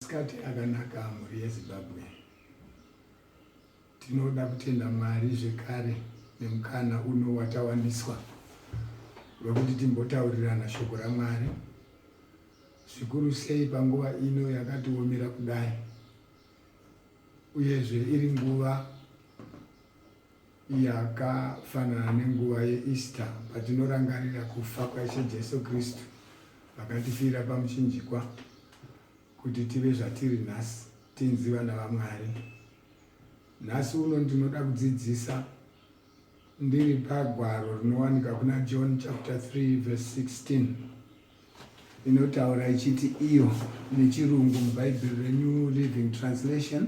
Masikati akanaka mhuri yeZimbabwe. Tinoda kutenda Mwari zvekare nemukana uno watawaniswa wekuti timbotaurirana shoko raMwari zvikuru sei panguva ino yakatiomera kudai uyezve iri nguva Yakafanana nenguva yeEaster patinorangarira kufa kwaIshe Jesu Kristu vakatifira pamuchinjikwa kuti tive zvatiri nhasi, tinzi vana vaMwari. Nhasi uno ndinoda kudzidzisa ndiri pagwaro rinowanika kuna John chapter 3 verse 16 inotaura ichiti iyo nechirungu mubhaibheri renyu living translation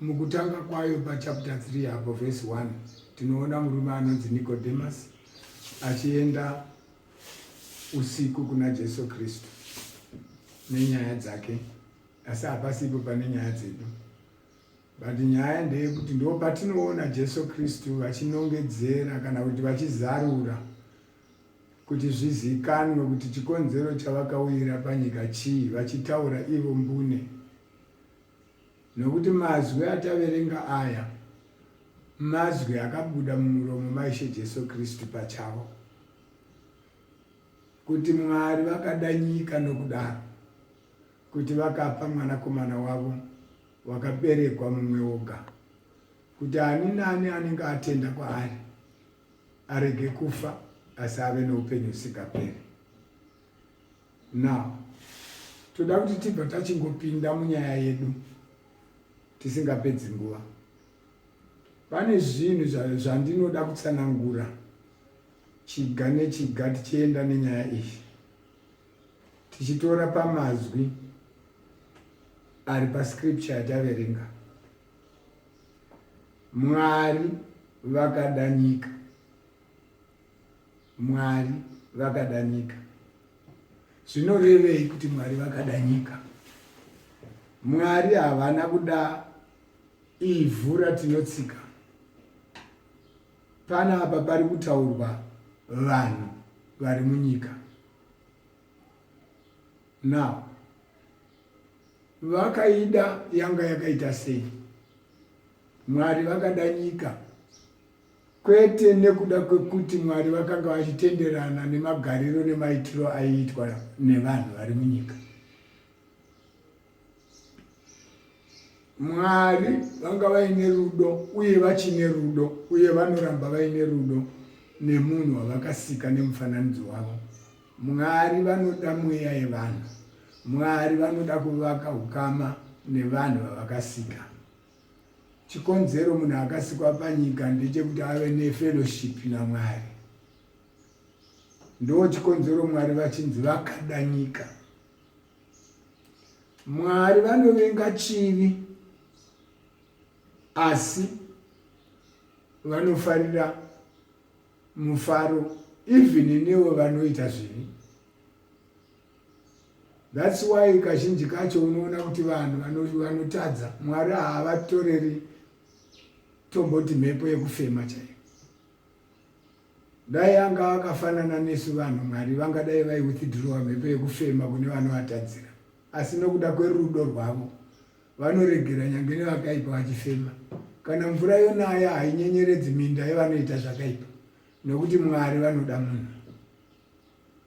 Mukutanga kwayo pachapter 3 apo vhesi 1 tinoona murume anonzi Nikodhemasi achienda usiku kuna Jesu Kristu nenyaya dzake, asi hapasipo pane nyaya dzedu, but nyaya ndeyekuti ndo patinoona Jesu Kristu vachinongedzera kana kuti vachizarura kuti zvizikanwe kuti chikonzero chavakauyira panyika chii, vachitaura ivo mbune Nokuti mazwi ataverenga aya mazwi akabuda mumuromo maIshe Jesu Kristu pachavo, kuti Mwari vakada nyika nokudaro kuti vakapa mwanakomana wavo wakaberekwa mumwe woga, kuti ani naani anenge atenda kwaari arege kufa asi ave noupenyu husingaperi. Now toda kuti tibva tachingopinda munyaya yedu tisingapedzi nguva. Pane zvinhu zvandinoda kutsanangura chiga nechiga tichienda nenyaya iyi tichitora pamazwi ari pascripture yataverenga. Mwari vakada nyika. Mwari vakada nyika. Zvinorevei kuti Mwari vakada nyika? Mwari havana kuda ivhu ratinotsika. Pana apa pari kutaurwa vanhu vari munyika. Now, vakaida yanga yakaita sei? Mwari vakada nyika kwete nekuda kwekuti Mwari vakanga vachitenderana nemagariro nemaitiro aiitwa nevanhu vari munyika. Mwari vanga vaine rudo uye vachine rudo uye vanoramba vaine rudo nemunhu wavakasika nemufananidzo wavo. Mwari vanoda mweya yevanhu. Mwari vanoda kuvaka ukama nevanhu vavakasika. chikonzero munhu akasikwa panyika ndechekuti ave nefellowship namwari ndo chikonzero mwari vachinzi vakada nyika mwari vanovenga chivi asi vanofarira mufaro even nevo vanoita zvivi That's why kazhinji kacho unoona kuti vanhu vanotadza Mwari haavatoreri tomboti mhepo yekufema chaiyo. Dai anga akafanana nesu vanhu Mwari vangadai vai withdrowa mhepo yekufema kune vanovatadzira. Asi nokuda kwerudo rwavo vanoregera nyange nevakaipa vachifema. Kana mvura yonaya hainyenyeredzi minda yevanoita zvakaipa nokuti Mwari vanoda munhu.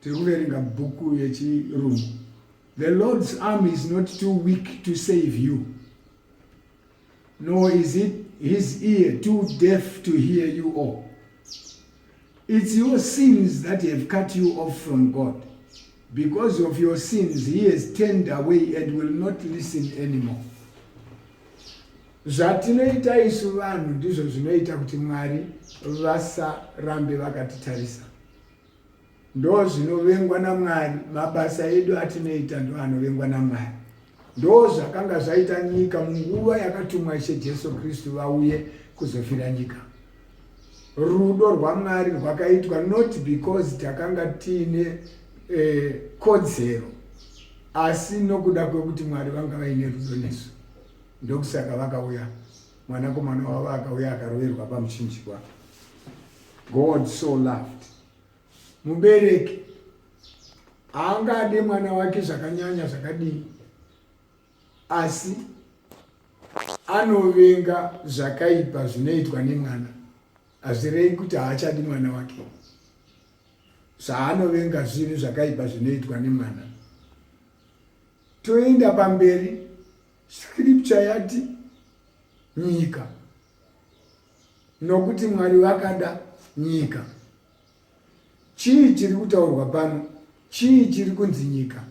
tiri kuverenga bhuku yechirungu the lord's arm is not too weak to save you nor is it his ear too deaf to hear you all it's your sins that have cut you off from god because of your sins he has turned away and will not listen anymore zvatinoita isu vanhu ndizvo zvinoita kuti mwari vasarambe vakatitarisa ndozvinovengwa namwari mabasa edu atinoita ndo anovengwa namwari ndo zvakanga zvaita nyika munguva yakatumwa ishe jesu kristu vauye kuzofira nyika rudo rwamwari rwakaitwa not because takanga tiine eh, kodzero asi nokuda kwekuti mwari vanga vaine rudo nesu ndokusaka vakauya Mwanakomana wavo akauya akaroverwa pamuchinjikwa. God so loved. Mubereki haangade mwana wake zvakanyanya zvakadii, asi anovenga zvakaipa zvinoitwa nemwana. Hazvirei kuti haachadi mwana wake, zvaanovenga zvinhu zvakaipa zvinoitwa nemwana. Toenda pamberi Scripture yati nyika nokuti Mwari vakada nyika. Chii chiri kutaurwa pano? Chii chiri kunzi nyika?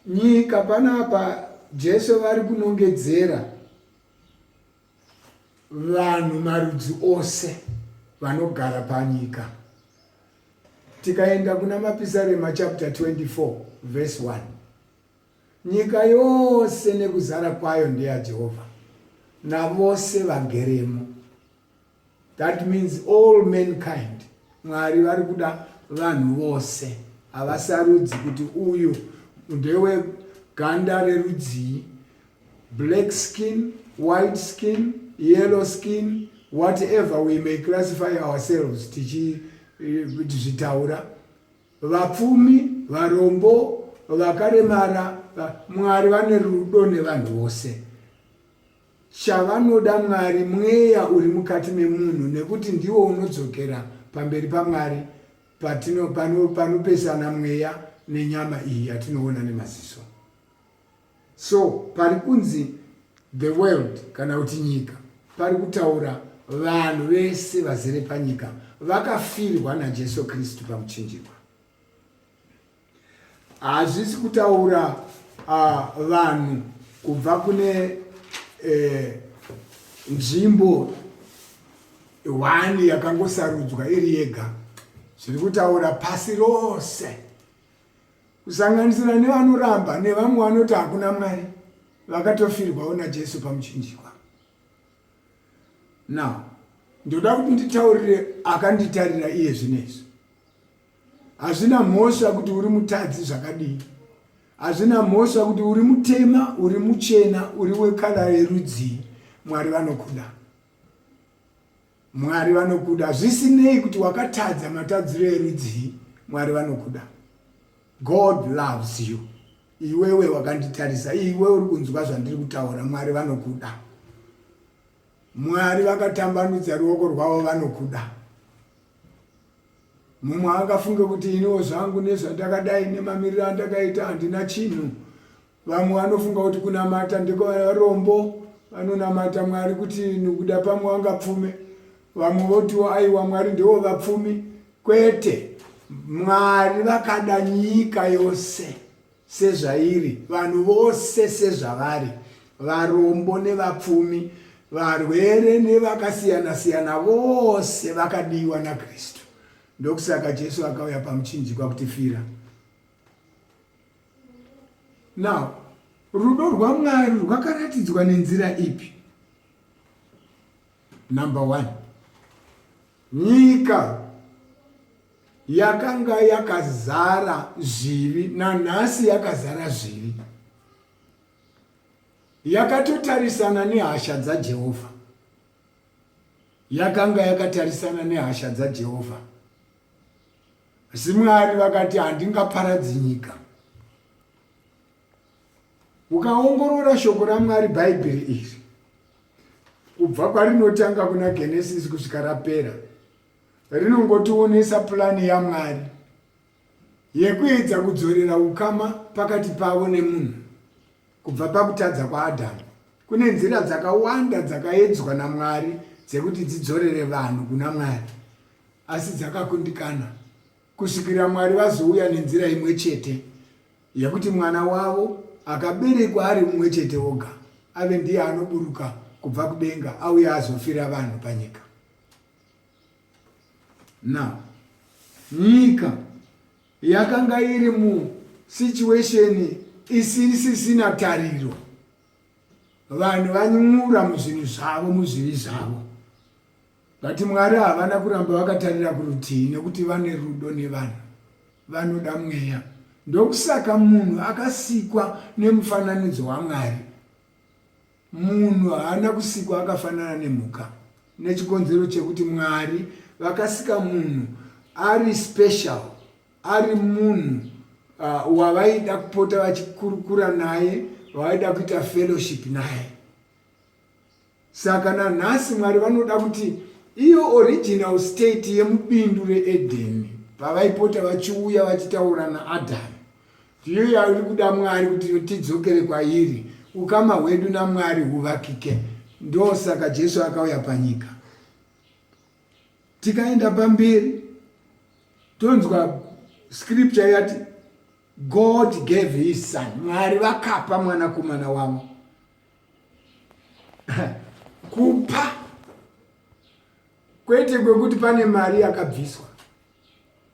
Nyika panapa Jesu vari kunongedzera vanhu marudzi ose vanogara panyika. tikaenda kuna mapisarema chapter 24 verse 1 nyika yose nekuzara kwayo ndeyajehovha navose vageremo that means all mankind mwari vari kuda vanhu vose havasarudzi kuti uyu ndeweganda rerudzii black skin, white skin, yellow skin, whatever we may classify ourselves tichizvitaura. Eh, Vapfumi, varombo, vakaremara, Mwari vane rudo nevanhu vose. Chavanoda Mwari mweya uri mukati memunhu nekuti ndiwo unodzokera pamberi paMwari panopesana mweya nenyama iyi yatinoona nemaziso. So pari kunzi the world kana kuti nyika pari kutaura vanhu vese vazere panyika vakafirwa naJesu Kristu pamuchinjikwa. Hazvisi kutaura uh, vanhu kubva kune eh, nzvimbo hwani yakangosarudzwa iri yega zviri kutaura pasi rose kusanganisira nevanoramba nevamwe vanoti hakuna mwari vakatofirwawo najesu pamuchinjikwa now ndoda kuti nditaurire akanditarira iye zvinezvi hazvina mhosva kuti uri mutadzi zvakadii hazvina mhosva kuti uri mutema uri muchena uri wekala yerudzii mwari vanokuda Mwari vanokuda zvisinei kuti wakatadza matadziro erudzii, Mwari vanokuda. God loves you. Iwewe wakanditarisa, iwe uri kunzwa zvandiri kutaura, Mwari vanokuda. Mwari vakatambanudza ruoko rwavo vanokuda. Mumwe akafunga kuti iniwo zvangu nezvandakadai nemamiriro andakaita handina chinhu. Vamwe vanofunga kuti kunamata ndekwevarombo vanonamata Mwari kuti nokuda pamwe wangapfume. Vamwe votiwo aiwa Mwari ndewo vapfumi. Kwete, Mwari vakada nyika yose sezvairi, vanhu vose sezvavari, varombo nevapfumi, varwere nevakasiyana-siyana vose vakadiwa naKristu. Ndokusaka Jesu akauya pamuchinjikwa kutifira. now rudo rwamwari rwakaratidzwa nenzira ipi number one nyika yakanga yakazara zvivi nanhasi yakazara zvivi yakatotarisana nehasha dzajehovha yakanga yakatarisana nehasha dzajehovha asi mwari vakati handingaparadzi nyika ukaongorora shoko ramwari bhaibheri iri kubva kwarinotanga kuna genesisi kusvika rapera rinongotionesa purani yamwari yekuedza kudzorera ukama pakati pavo nemunhu kubva pakutadza kwaadhamu kune nzira dzakawanda dzakaedzwa namwari dzekuti dzidzorere vanhu kuna mwari asi dzakakundikana kusvikira Mwari vazouya nenzira imwe chete yekuti mwana wavo akaberekwa ari mumwe chete oga ave ndiye anoburuka kubva kudenga auye azofira vanhu panyika now nyika yakanga iri musituation isisisina tariro vanhu vanyura muzvinhu zvavo muzvivi zvavo But Mwari havana kuramba vakatarira kurutivi nekuti vane rudo nevanhu. Vanoda mweya. Ndokusaka munhu akasikwa nemufananidzo waMwari. Munhu haana kusikwa akafanana nemhuka nechikonzero chekuti Mwari vakasika munhu ari special, ari munhu uh, wavaida kupota vachikurukura naye, wavaida kuita fellowship naye. Saka nanhasi Mwari vanoda kuti iyo original state yemubindu reEdheni pavaipota vachiuya vachitaura naAdhamu ndiyo yairi kuda Mwari kuti tidzokere kwairi, ukama hwedu naMwari huvakike. Ndosaka Jesu akauya panyika. Tikaenda pamberi tonzwa scripture yati God gave his son, Mwari vakapa mwanakomana wavo kupa kwete kwekuti pane mari yakabviswa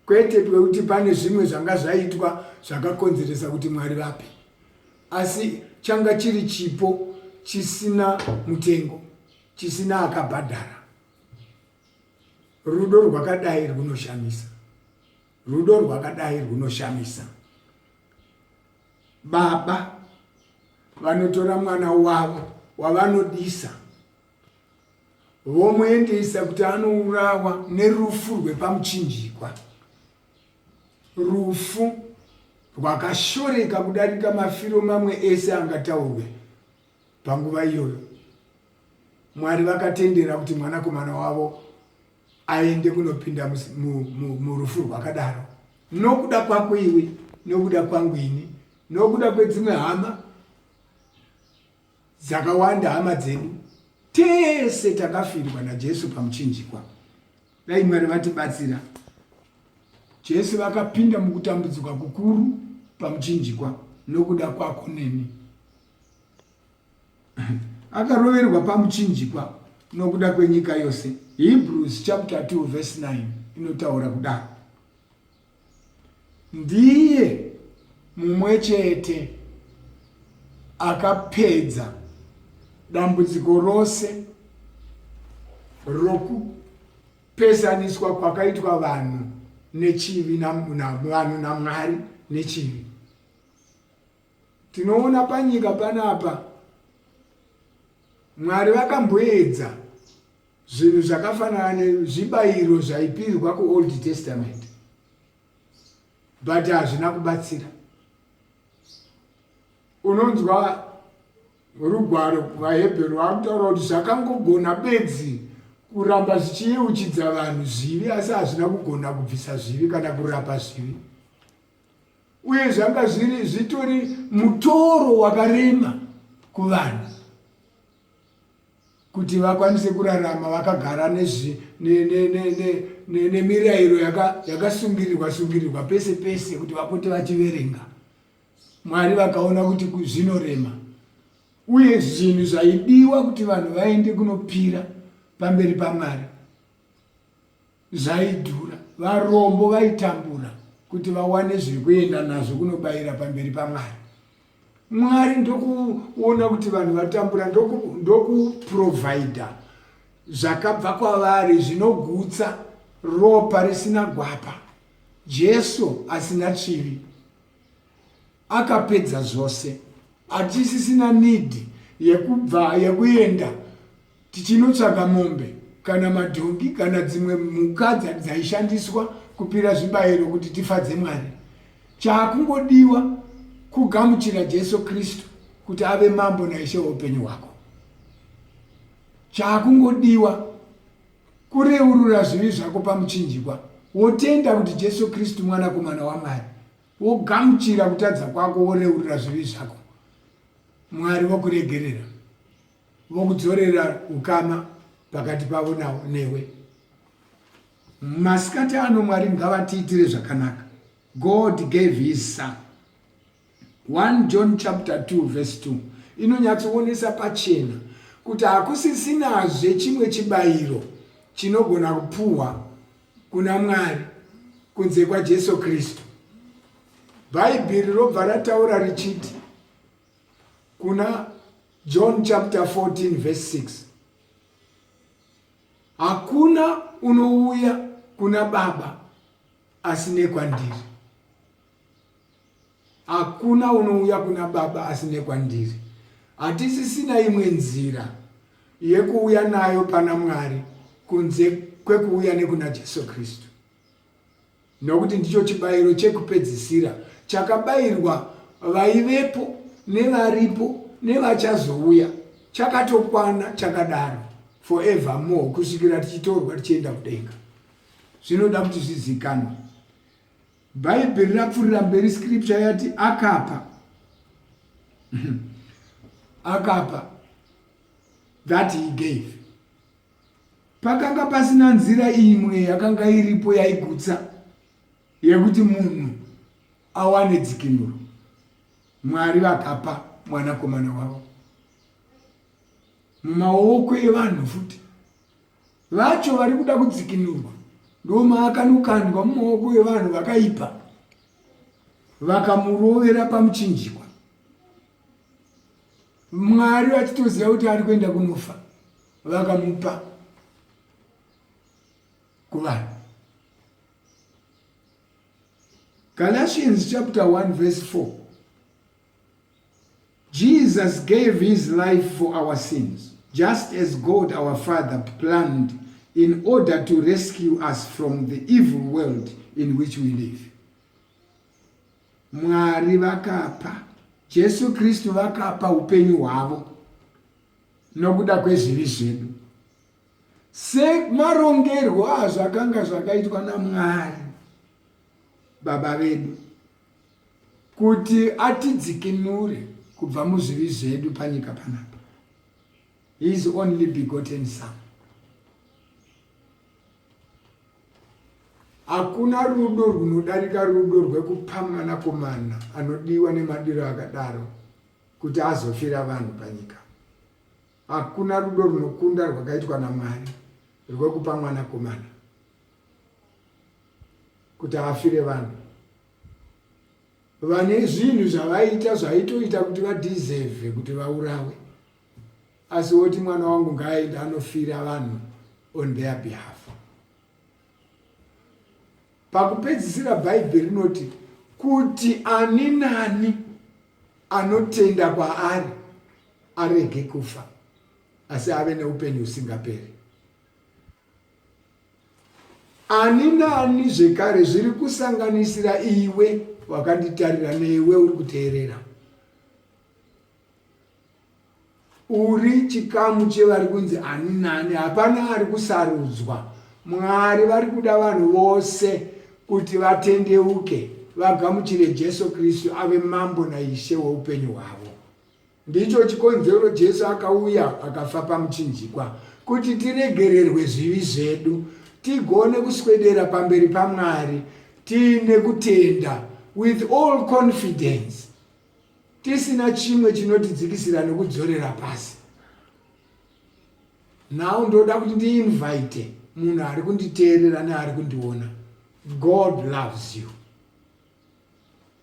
kwete kwekuti pane zvimwe zvanga zvaitwa zvakakonzeresa kuti mwari vape asi changa chiri chipo chisina mutengo chisina akabhadhara rudo rwakadai rwunoshamisa Rudo rwakadai rwunoshamisa. Baba vanotora mwana wavo wavanodisa vomuendesa kuti anourawa nerufu rwepamuchinjikwa, rufu rwakashoreka kudarika mafiro mamwe ese angataurwe panguva iyoyo. Mwari vakatendera kuti mwanakomana wavo aende kunopinda murufu rwakadaro nokuda kwako iwe nokuda kwangu ini nokuda kwedzimwe hama dzakawanda hama dzedu tese takafirwa najesu pamuchinjikwa dai mwari vatibatsira jesu vakapinda mukutambudzika kukuru pamuchinjikwa nokuda kwako neni akaroverwa pamuchinjikwa nokuda kwenyika yose hebrews chapter 2 verse 9 inotaura kudaro ndiye mumwe chete akapedza dambudziko rose rokupesaniswa kwakaitwa vanhu nechivi vanhu namwari nechivi Tinoona panyika panapa Mwari vakamboedza zvinhu zvakafanana nezvibayiro zvaipirwa kuOld Testament but hazvina kubatsira. Unonzwa rugwaro vaHebheru vakutaura kuti zvakangogona bedzi kuramba zvichiyeuchidza vanhu zvivi asi hazvina kugona kubvisa zvivi kana kurapa zvivi uye zvanga zviri zvitori mutoro wakarema kuvanhu kuti vakwanise kurarama vakagara nemirayiro yakasungirirwa sungirirwa pese pese kuti vapote vachiverenga mwari vakaona kuti zvinorema uye zvinhu zvaidiwa kuti vanhu vaende kunopira pamberi pamwari zvaidhura varombo vaitambura kuti vawane zviri kuenda nazvo kunobayira pamberi pamwari mwari ndokuona kuti vanhu vatambura ndokuprovhaidha zvakabva kwavari zvinogutsa ropa risina gwapa jesu asina chivi Akapedza zvose. Hatisisina need yekubva yekuenda tichinotsvaga mombe kana madhongi kana dzimwe mhuka dzaishandiswa kupira zvibayiro kuti tifadze Mwari. Chaakungodiwa kugamuchira Jesu Kristu kuti ave mambo naishe weupenyu hwako. Chaakungodiwa kureurura zvivi zvako pamuchinjikwa wotenda kuti Jesu Kristu mwanakomana waMwari Wogamuchira kutadza kwako woreurira zvivi zvako. Mwari vokuregerera. Vokudzorera ukama pakati pavo nawo newe. Masikati ano Mwari ngavatiitire zvakanaka. God gave his son. 1 John chapter 2 verse 2 inonyatsoonesa pachena kuti hakusisinazve chimwe chibayiro chinogona kupuhwa kuna Mwari kunze kwaJesu Kristu. Bhaibheri robva rataura richiti kuna John chapter 14 verse 6 hakuna unouya kuna Baba asi nekwandiri. Hakuna unouya kuna Baba asine kwandiri. Hatisisina imwe nzira yekuuya nayo pana Mwari kunze kwekuuya nekuna Jesu Kristu, nokuti ndicho chibayiro chekupedzisira chakabayirwa vaivepo nevaripo nevachazouya chakatokwana chakadaro forever more kusvikira tichitorwa tichienda kudenga zvinoda kuti zvizikanwe Bhaibheri rapfurira mberi scripture yati akapa akapa that he gave pakanga pasina nzira imwe yakanga iripo yaigutsa yekuti munhu awane dzikinuro mwari vakapa mwanakomana wavo mumaoko evanhu futi vacho vari kuda kudzikinurwa ndomaakanokandwa mumaoko evanhu vakaipa vakamurovera pamuchinjikwa mwari vachitoziva kuti ari kuenda kunofa vakamupa kuvanhu galatians chapter 1 verse 4 Jesus gave his life for our sins just as God our father planned in order to rescue us from the evil world in which we live. Mwari vakapa Jesu Kristu vakapa upenyu hwavo nokuda kwezvivi zvedu semarongerwo azvakanga zvakaitwa naMwari baba vedu Kuti atidzikinure kubva muzvivi zvedu panyika panapa. His only begotten son. Hakuna rudo rwunodarika rudo rwekupa mwanakomana anodiwa nemadiro akadaro kuti azofira vanhu panyika. Hakuna rudo rwunokunda rwakaitwa naMwari rwekupa mwanakomana kuti afire vanhu. vane zvinhu zvavaita zvaitoita kuti vadeserve kuti vaurawe asi woti mwana wangu ngaaenda anofira vanhu on their behalf pakupedzisira bhaibheri rinoti kuti ani nani anotenda kwaari arege kufa asi ave neupenyu husingaperi ani naani zvekare zviri kusanganisira iwe wakanditarira newe uri kuteerera uri chikamu chevari kunzi ani nani hapana ari kusarudzwa mwari vari kuda vanhu vose kuti vatendeuke vagamuchire jesu kristu ave mambo naishe weupenyu hwavo Ndicho chikonzero Jesu akauya akafa pamuchinjikwa, kuti tiregererwe zvivi zvedu, tigone kuswedera pamberi paMwari tiine kutenda, with all confidence, tisina chimwe chinotidzikisira nekudzorera pasi. Now ndoda kuti ndiinvite munhu ari kunditeerera neari kundiona. God loves you.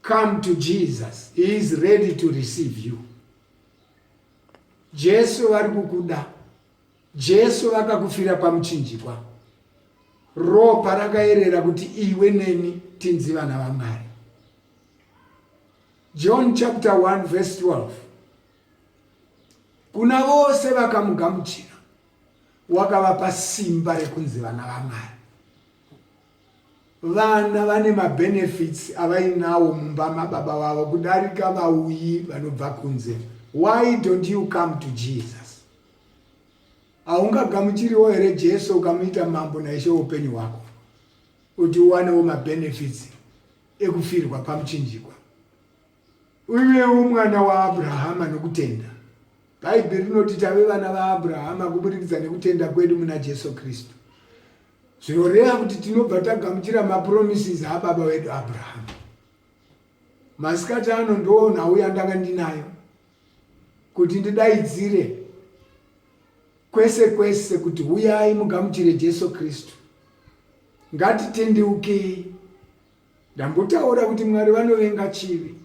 Come to Jesus. He is ready to receive you. Jesu vari kukuda. Jesu vakakufira pamuchinjikwa. Ropa rakaerera kuti iwe neni tinzi vana vaMwari. John chapter 1 verse 12. Kuna vose vakamugamuchira wakavapa simba rekunzi vana vaMwari. Vana vane mabenefits avainawo mumba mababa vavo kudarika vauyi vanobva kunze. Why don't you come to Jesus? Haungagamuchiriwo here Jesu ukamuita mambo naishe upenyu hwako kuti uwanewo mabenefits ekufirwa pamuchinjikwa? Uivewo mwana waAbrahama nokutenda. Bhaibheri rinoti tave vana vaAbrahama kuburikidza nekutenda kwedu muna Jesu Kristu. Zvinoreva kuti tinobva tagamuchira mapromises ababa wedu Abrahama. Masikati ano ndoo nhau yandanga ndinayo kuti ndidaidzire kwese kwese kuti huyai mugamuchire Jesu Kristu. Ngatitendeukei Ndambotaura kuti Mwari vanovenga chivi.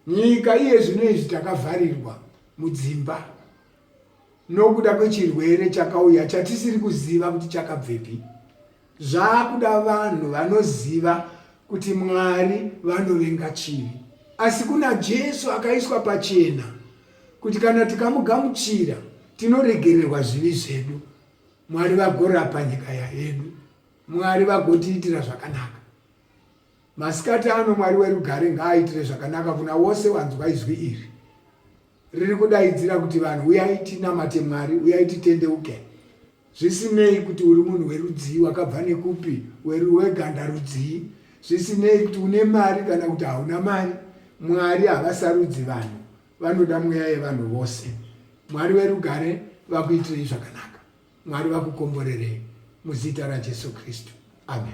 Nyika iye zvino izvi takavharirwa mudzimba nokuda kwechirwere chakauya chatisiri kuziva kuti chakabvepi. Zvakuda vanhu vanoziva kuti Mwari vanovenga chivi. Asi kuna Jesu akaiswa pachena kuti kana tikamugamuchira tinoregererwa zvivi zvedu. Mwari vagorapa nyika yaedu. Mwari vagotiitira zvakanaka. Masikati ano Mwari werugare ngaaitire zvakanaka kuna wose wanzwa izwi iri. Riri kudaidzira kuti vanhu uyai tinamate Mwari, uyai titendeuke. Zvisinei kuti uri munhu werudzii, wakabva nekupi, weganda rudzii, zvisinei kuti une mari kana kuti hauna mari, Mwari havasarudzi vanhu, vanoda mweya yevanhu vose. Mwari werugare vakuitirei zvakanaka. Mwari vakukomborerei muzita raJesu Kristu. Amen.